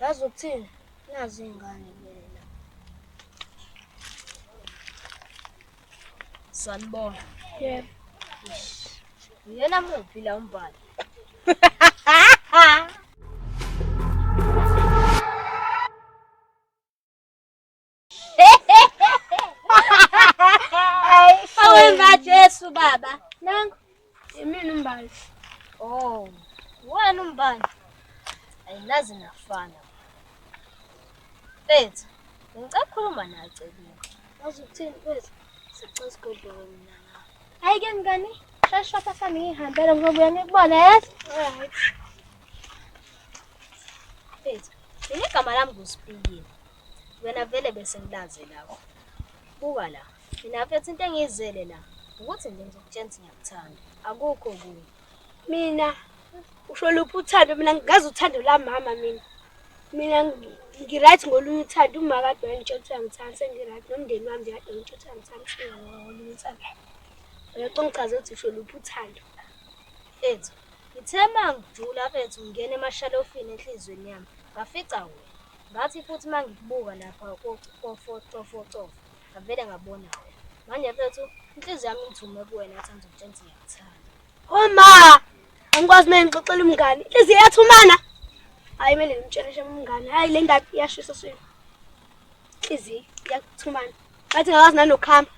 Yazi ukuthini? Nazi iy'ngane mina. Sanibona. Yebo. Uyena muphi la umbhali? Awenza Jesu baba. Nangu. Imini umbali. Oh. Wena umbali. Ayinazi nafana. Bethu, ngicela ukukhuluma nawe Cebile. Wazi ukuthini bethu? Sicela isigodloko mina. Hayi ke ngani? Shasha lapha sami ngihambele ngoba uyangikubona yes? Alright. Bethu, yini igama lami nguSipilile. Wena vele bese ngilaze lawe. Buka la, mina mfethu into engiyizele la ukuthi nje ngizokutshela ukuthi ngiyakuthanda. Akukho okunye. Mina usho luphi uthando mina ngazi uthando la mama mina. Mina ngi-right ngolunye uthando uma kade wangitshela ukuthi uyangithanda sengi-right nomndeni wami nje kade ngitshela ukuthi uyangithanda ushiye ngolunye uthando. Uyacela ungichaze ukuthi usho luphi uthando. Ethu, ngithe mangijula bethu ngingena emashalofini enhlizweni yami, ngafica wena. Ngathi futhi uma ngikubuka lapha kofocofocof ngavele ngabona wena manje mfethu inhliziyo yami ingithume kuwena athi ngizokutshela ukuthi ngiyakuthanda oma angikwazi uma ngixoxela umngane inhliziyo yathumana hhayi kumele ngimtshele shem umngane hhayi le ndaba iyashisa swini inhliziyo iyakuthumana ngathi ngakwazi nanokuhamba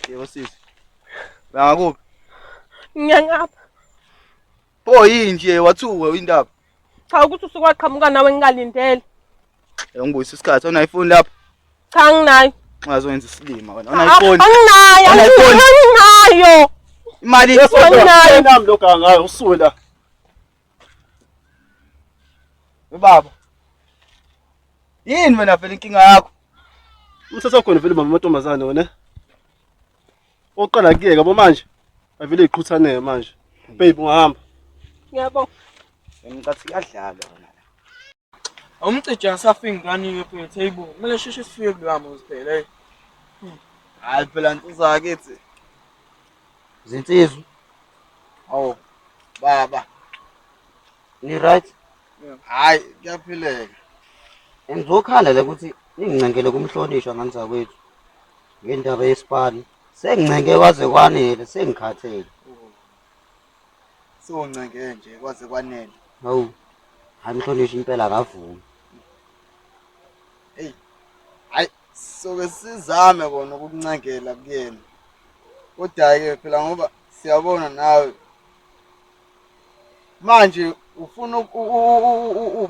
Yebo sisi. Bangakuphi? Ngiyangapha. Bo yini nje wathuka indaba? Cha ukuthi usuke waqhamuka nawe ngingalindele. Ngibuyisa isikhathi ona iphone lapha. Cha nginayo. Ungazoyenza isilima wena. Ona iphone. Anginayo. Ona iphone. Anginayo. Imali yesonto. Anginayo. Nami lo gangayo usuwe la. Ubaba. Yini wena vele inkinga yakho? Umthetho khona vele mama amantombazane wena. Oqala kuyeka bo manje. Avele iqhuthaneke manje. Babe ungahamba. Ngiyabonga. Ngicatha kuyadlalwa. Awumcije ngisafika ngikanike mfethu hey bo. Kumele sheshe sifike kuloya muzi phela hey. Hayi phela nsizwa yakithi. Zinsizwa. Awu baba. Ni right? Hayi kuyaphileka. Ngizokhala la ukuthi ningincengele kumhlonishwa ngani zakwethu. Ngendaba yesipani. Sengincenge kwaze kwanele sengikhathele. Sewuncenge nje kwaze kwanele. Hawu. Hayi mhlonishwa impela akavumi. Hey. Hayi soke sizame kona ukukuncengela kuyena. Kodwa ke phela ngoba siyabona nawe manje ufuna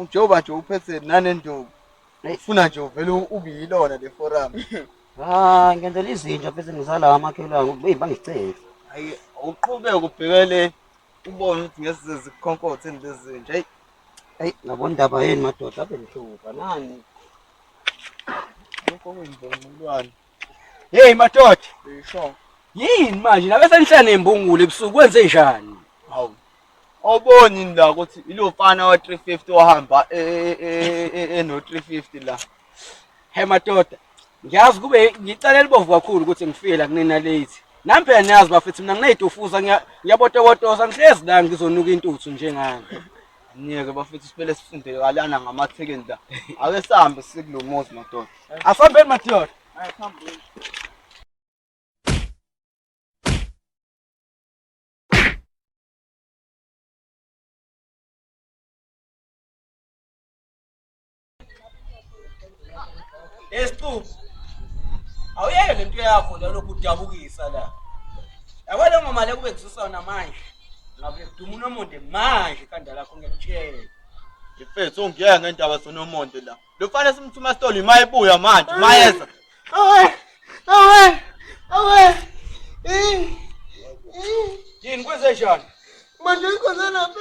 njengoba nje uphethe nanenduku ufuna nje uvele ubiyilona le forum Ah, ngenzela izinja bese ngizala amakhelwane ukuthi hey bangicele. Hayi uqhubeke ubhekele ubone ukuthi ngeze zikhonkothe lezinja. Hey Hey, ngabona indaba yenu madoda abe nihluka nani. lokho kwenzela umlwane. Hey madoda, Isho. yini manje nabe senihlane imbungule ebusuku kwenze njani? Hawu. Awuboni yini la ukuthi ilofana wa 350 ohamba e- e- e- e- eno 350 la. He madoda, ngiyazi kube ngicela elibovu kakhulu ukuthi ngifike la kunina late. Nami phela niyazi bafethu mina ngineyitufuza ngiya- ngiyabotobotosa ngihlezi la ngizonuka intuthu njengani. Niyeke bafethu siphele sifunde kalana ngamathekeni la. Ake sihambe sikulo muzi madoda. Asambeni madoda. Esicubu. Awuyeke lento yakho la lokhu udabukisa la. Yabo le ngoma le kube kususa wona manje. Ngabe kuduma unomonde manje ikhanda lakho ngiyakutshela. Mfethu ungiyeke ngendaba sonomonde la. Lo mfana simthuma stolo imayibuya manje mayeza. Awe. Awe. Awe. Eh. Eh. Yini kwenze njani? Manje ikhona lapha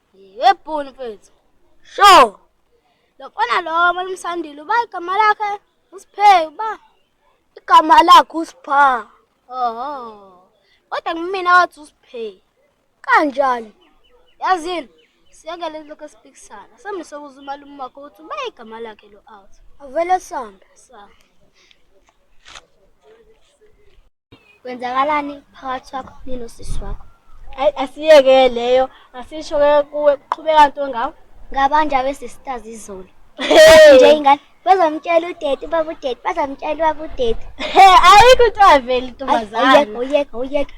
Yebo mfethu. Sho. Lo mfana lo malimsandile uba igama lakhe uSiphe uba igama lakhe uSipha. Oho. Kodwa ngimina wathi uSiphe. Kanjani? Yazini siyekele lokho esipikisana. Sambe sokuza umalume wakho ukuthi uba igama lakhe lo out. Avele sambe. Sambe. Kwenzakalani phakathi kwakho ninosisi wakho? Hayi asiyeke leyo asisho ke kuwe qhubeka nto ngawe. Ngabanje abesisters izolo. Nje ingane bazomtshela udade ubaba udade bazomtshela ubaba udade. Ayikho into aveli ntombazana. Oyeka oyeka oyeka.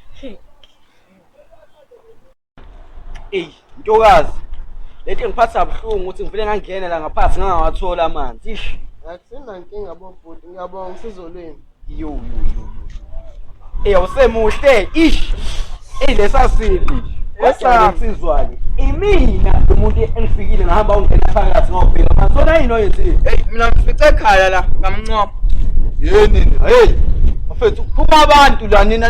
eyi ntokazi lento engiphatha buhlungu ukuthi ngivele ngangena la ngaphansi ngangawathola amanzi ish akusenankinga bobhuti ngiyabonga usizo lwenu yo yo yo eyi awusemuhle ish eyi lesasiphi esasizwake imina umuntu engifikile ngahamba ungena phakathi ngobheka masona yini oyenzile eyi mina ngifice ekhaya la ngamncoma yini nina heyi bafethu phuma abantu la nina